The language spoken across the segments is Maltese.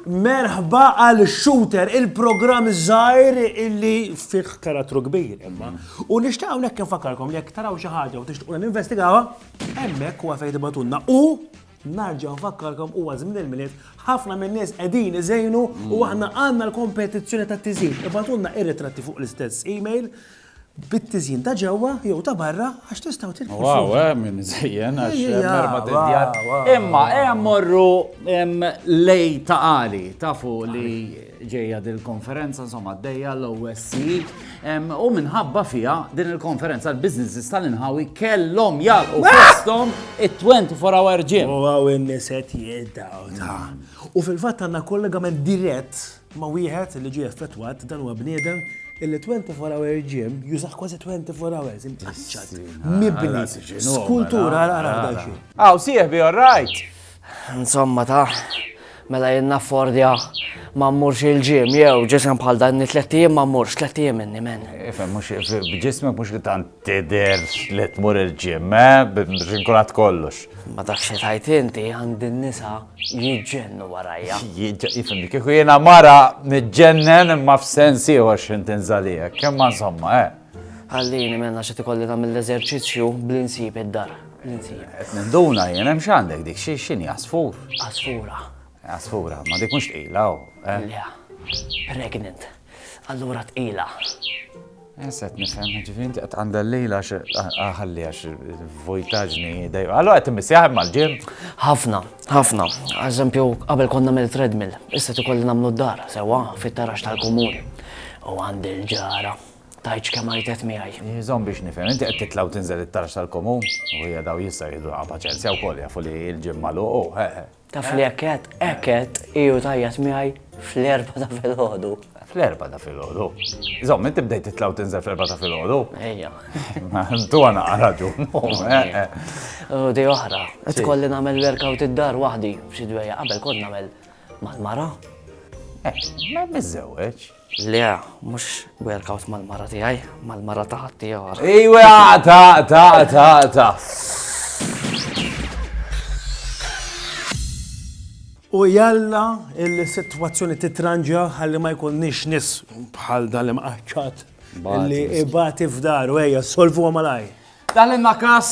Merħba għal Shooter, il-programm żgħir illi fih karattru kbir imma. U nixtieq hawnhekk infakarkom li jekk taraw xi ħaġa u tixtiequ ninvestigawha, hemmhekk huwa fejn tibatunna u Narġa' nfakkarkom huwa żmien il-Milied, ħafna min-nies qegħdin iżejnu u aħna għandna l-kompetizzjoni tat-tiżjin. Ibagħtulna ir-ritratti fuq l-istess email bit-tiżjin ta' ġewwa jew ta' barra għax tistgħu tirkbu. Wow, eh, min iżejjen għax merba tedjar. Imma hemm morru lej ta' qali, tafu li ġejja din il-konferenza, insomma, għaddejja l-OSCE, u minħabba fija din il-konferenza l-biznesses tal-inħawi kellhom jalqu fosthom it-24 hour gym. U għaw in-niset jiddaw ta' U fil-fatt għandna kollegament dirett ma' wieħed li ġie effettwat dan huwa bniedem illi 24 hour gym jużaħ kważi 24 hours imċaċċat. Mibni. Skultura għal għal Għaw, sieħbi, all right. Insomma ta, mela jien naffordja ma mmurx il-ġim, jew ġisem bħal dan ni tlett ijiem ma mmurx, tlett ijiem inni men. Ifhem, mhux b'ġismek mhux li tant tidher li tmur il-ġim, eh, biex inkun għad kollox. Ma tafx xi tgħid inti, għandi n-nisa jiġġennu warajja. Ifhem, li kieku jiena mara niġġennen imma f'sens ieħor x'ħin tinżal hija, imma insomma, eh. Ħallini mela x'qed ikolli nagħmel l-eżerċizzju b'li nsib id-dar. Li nsib. Qed ninduna jien hemm x'għandek dik xi x'inhi għasfur? Għasfura. Għasfura, ma dik mhux tqila hawn. Eh? Le. Pregnant. Allura tqila. Issa qed nifhem, ġifieri inti qed għandha l-lejla ħalli għax vojtaġni dej. Allora qed immissi jaħdem mal-ġim. Ħafna, ħafna. Eżempju, qabel konna mill treadmill, issa tikolli nagħmlu d-dar sewwa fit-tarax tal-komuni. U għandi l-ġara. Tgħidx kemm għajtet miegħi. Iżomm biex nifhem, inti qed titla' u tinżel it-tarf tal-komun? U hija daw jistgħu jieħduha paċenzja wkoll jafu li l-gym magħluq hu, eh, eh. Taf li hekk għedt, hekk għedt hi u tgħajjat miegħi fl-erbgħa ta' filgħodu. Fl-erbgħa ta' filgħodu? Żomm, inti bdejt titla' u tinżel fl-erbgħa ta' filgħodu? Ejja. Ma tu għana raġun. Eh, eh. U di oħra, qed tkolli nagħmel workout id-dar waħdi, xi dwejja qabel kont nagħmel mal-mara. Eh, ma miżżewweġ. Le, mhux workout mal-mara tiegħi, mal-mara ta' ħaddieħor. Iwa, ta' ta' ta' ta'. U jalla il-sitwazzjoni titranġa ħalli ma jkunniex nis bħal dan li mqaċċat li ibati f'daru, ejja, solvuha malaj. Talimna każ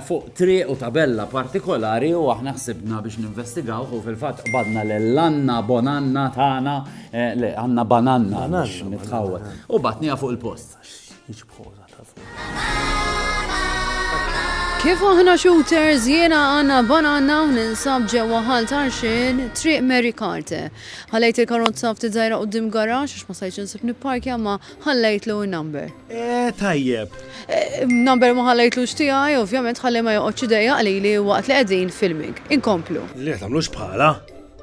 fuq triq u tabella partikolari u aħna ħsibna biex ninvestigaw u fil-fatt qbadna l-Anna Bonanna tagħna eh, le għandna bananna biex nitħawwel. U batnija fuq il-post. Kif aħna shooters jiena għanna bananna u ninsab ġewwa ħal tarxin triq Mary Carte. Ħalejt il-karozza ftit żgħira qudiem garax għax ma sajċ insib nipparkja ma ħallejtlu n-number. Eh, tajjeb. Eh, number ma ħallejtlux tiegħi, ovvjament ħalli ma joqgħodx idejja qalili waqt li qegħdin filming. Inkomplu. Li tagħmlux bħala.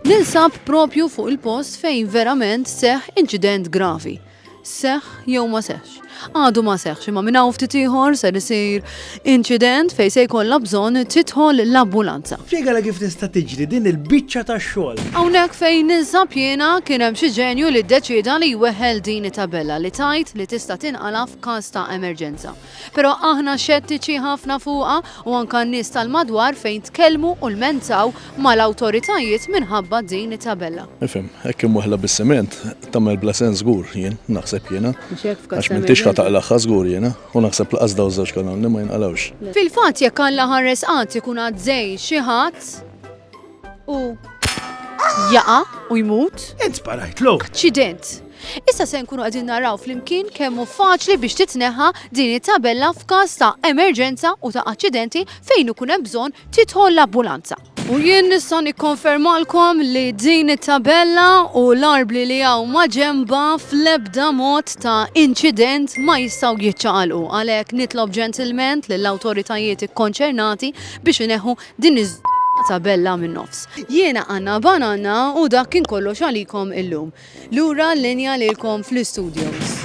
Nilsab propju fuq il-post fejn verament seħ inċident gravi. Seħ jew ma seħx. Għadu ma seħx imma minn hawn ftit ieħor ser isir Inċident fejn se jkollha bżonn tidħol l-ambulanza. Spjegala kif tista' tiġri din il-biċċa ta' xogħol. Hawnhekk fejn ninsab jiena, kien hemm xi ġenju li ddeċieda li jweħħel din it-tabella li tgħid li tista' tinqala' f'każ ta' emerġenza. Però aħna xettiċi ħafna fuqha u anke n-nies tal-madwar fejn tkellmu u lmentaw mal-awtoritajiet minħabba din it-tabella. Nifhem, hekk imweħħla bis-siment tagħmel bla sens żgur, jien naħseb jiena. Mhux hekk f'każ ta' emerġenza? Għax m'intix ħa taqlagħha żgur jiena. U naħseb laqas daw żewġ kanunni ma jinqalgħux. Fil-fatt jekk Alla ħares qatt ikun għad żej xi ħadd u jaqa' u jmut. Int sparajtlu. Aċċident. Issa se nkunu qegħdin naraw flimkien kemm hu faċli biex titneħħa din it-tabella f'każ ta' emerġenza u ta' aċċidenti fejn ikun hemm bżonn tidħol l-ambulanza. U jien nista' nikkonfermalkom li din it-tabella u l-arbli li hawn maġenbha fl-ebda mod ta' inċident ma jistgħu jiċċaqalqu. Għalhekk nitlob ġentilment lill-awtoritajiet ikkonċernati biex ineħħu din iż-żballata tabella min-nofs. Jiena Anna Banana u dak kien kollox għalikom illum. Lura l-linja lilkom fl-istudios.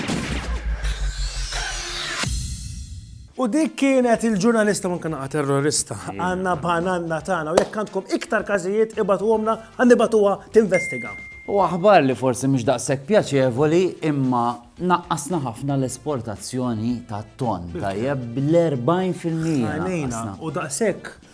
U dik kienet il-ġurnalista u anke naqa' terrorista, Anna Bananna tagħna u jekk għandkom iktar każijiet ibagħtuhomlna ħa nibagħtuha tinvestiga. U aħbar li forsi mhux daqshekk pjaċevoli imma naqqasna ħafna l-esportazzjoni tat-tonn, tajjeb, bl-40 fil-mija. Għajnejna u daqshekk